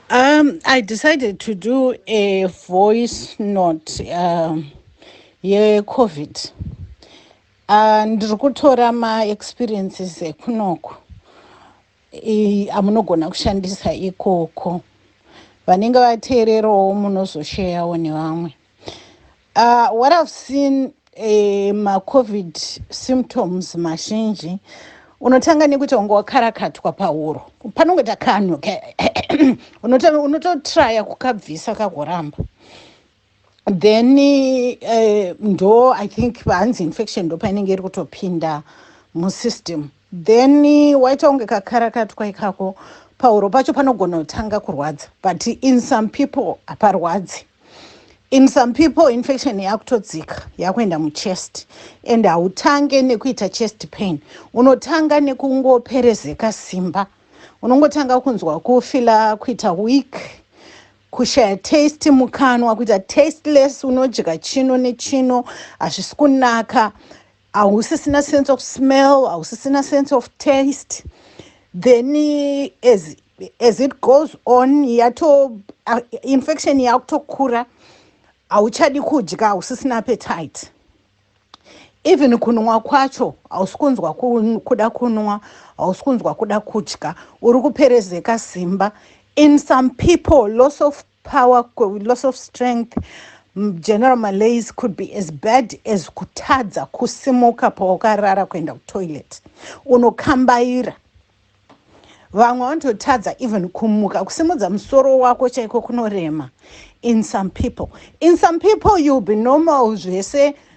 Um, I decided to do a voice note um, yeCovid. Uh, ndiri kutora maexperiences ekunoku i- amunogona kushandisa ikoko. Vanenge vateererawo munozosheyawo nevamwe. Uh, what I've seen eh, macovid symptoms mazhinji unotanga nekuti wanga wakarakatwa pahuro panongoita kanhu ka- unoto- unototraya kukabvisa kagoramba then eh, ndo i think pahanzi infection ndo painenge iri kutopinda musystem Then waita kunge kakarakatwa ikako pahuro pacho panogona kutanga kurwadza but in some people haparwadzi in some people infection yakutodzika yakuenda muchest and hautange nekuita chest pain unotanga nekungoperezeka simba unongotanga kunzwa kufila kuita weak kushaya taste mukanwa kuita tasteless unodya chino nechino hazvisi kunaka hausisina sense of smell hausisina sense of taste then as, as it goes on yato uh, infection yakutokura hauchadi kudya hausisina appetite even kunwa kwacho hausi kunzwa kuda kunwa hausi kunzwa kuda kudya uri kuperezeka simba in some people loss of power loss of strength general malays could be as bad as kutadza kusimuka pawakarara kuenda kutoilet unokambaira vamwe vanototadza even kumuka kusimudza musoro wako chaiko kunorema in some people in some people youll be normal zvese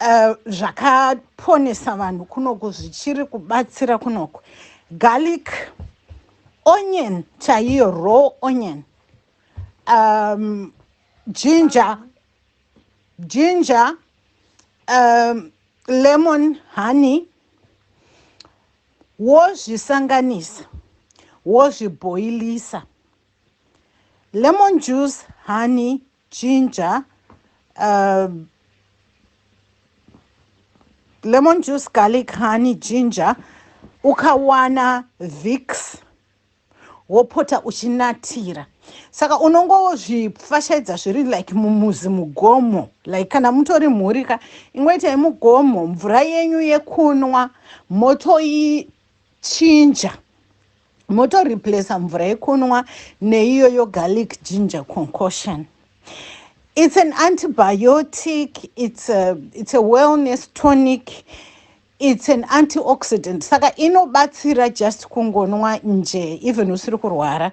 Uh, zvakaponesa vanhu kunoku zvichiri kubatsira kunoku garlic onion chaiyo raw onion um, ginger ginger um, lemon honey wozvisanganisa wozvibhoilisa lemon juice honey Ginger uh, lemon juice garlic honey ginger ukawana vix wopota uchinatira saka unongozvipfashaidza zviri like mumuzi mugomo like kana mutori mhuri ka ingoitai mugomo mvura yenyu yekunwa motoichinja moto replacer mvura yekunwa neiyo yo garlic ginger concoction it's an antibiotic it's a, it's a wellness tonic it's an antioxidant saka inobatsira just kungonwa nje even usiri kurwara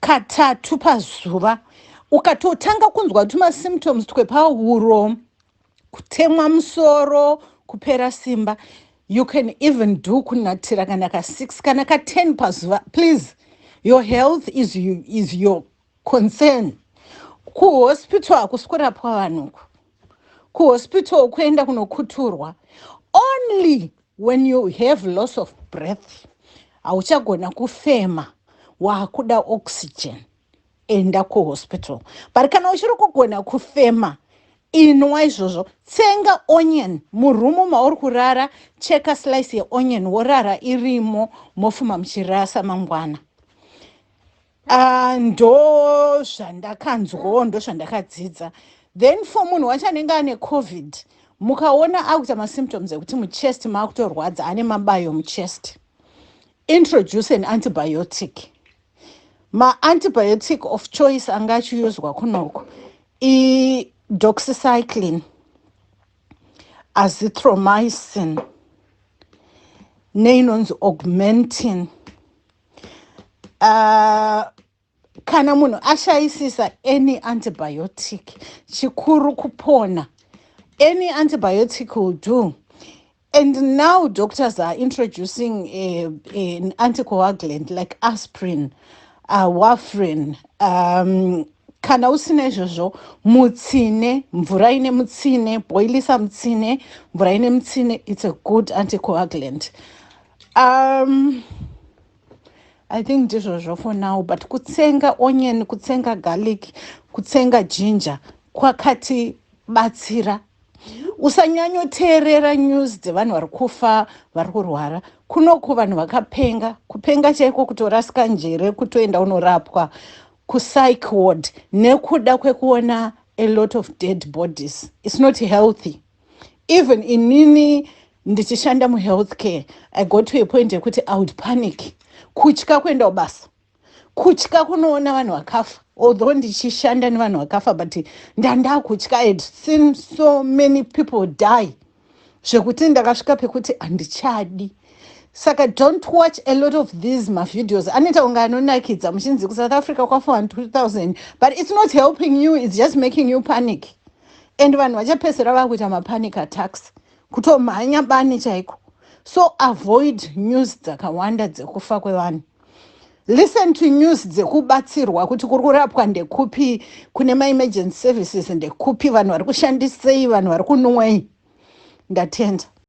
katatu pazuva ukatotanga kunzwa tumasymptoms twepahuro kutemwa musoro kupera simba you can even do kunatira kana ka 6 kana ka 10 pazuva please your health is, you, is your concern kuhospital hakusi kurapwa vanhuku kuhospital kuenda kunokuturwa only When you have loss of breath hauchagona kufema wakuda oxygen enda kuhospital but kana uchiri kugona kufema inwa izvozvo tsenga onion murumu mauri kurara cheka slice yeonion worara irimo mofuma muchirasa mangwana Ah, ndo zvandakanzwawo ndo zvandakadzidza then for munhu wacho anenge ane covid mukaona akuita masymptoms ekuti muchest maakutorwadza ane mabayo muchest introduce an antibiotic maantibiotic of choice anga achiuzwa kunoko idoxycycline azithromycin neinonzi augmentin uh, kana munhu ashayisisa any antibiotic chikuru kupona any antibiotic will do and now doctors are introducing a, a, an anticoagulant like aspirin uh, warfrin um, kana usina izvozvo mutsine mvura ine mutsine boilisa mutsine mvura ine mutsine it's a good anticoagulant Um, I think ndizvozvo for now but kutsenga onion, kutsenga garlic, kutsenga ginger kwakati batsira usanyanyoteerera news dzevanhu vari kufa vari kurwara kunoku vanhu vakapenga kupenga chaiko kutorasika njere kutoenda unorapwa kupsych ward nekuda kwekuona a lot of dead bodies its not healthy even inini ndichishanda muhealth care i got to a point yekuti i would panic kutya kuenda kubasa kutya kunoona vanhu vakafa although ndichishanda nevanhu vakafa but ndandakutya i had seen so many people die zvekuti ndakasvika pekuti handichadi saka don't watch a lot of these mavideos anoita kunge anonakidza muchinzi kusouth africa kwafa vanhu 2000 but it's not helping you it's just making you panic and vanhu vachapedzisira vakuita mapanic attacks kutomhanya bani chaiko so avoid news dzakawanda dzekufa kwevanhu listen to news dzekubatsirwa kuti kuri kurapwa ndekupi kune maemergency services ndekupi vanhu vari kushandisei vanhu vari kunwei ndatenda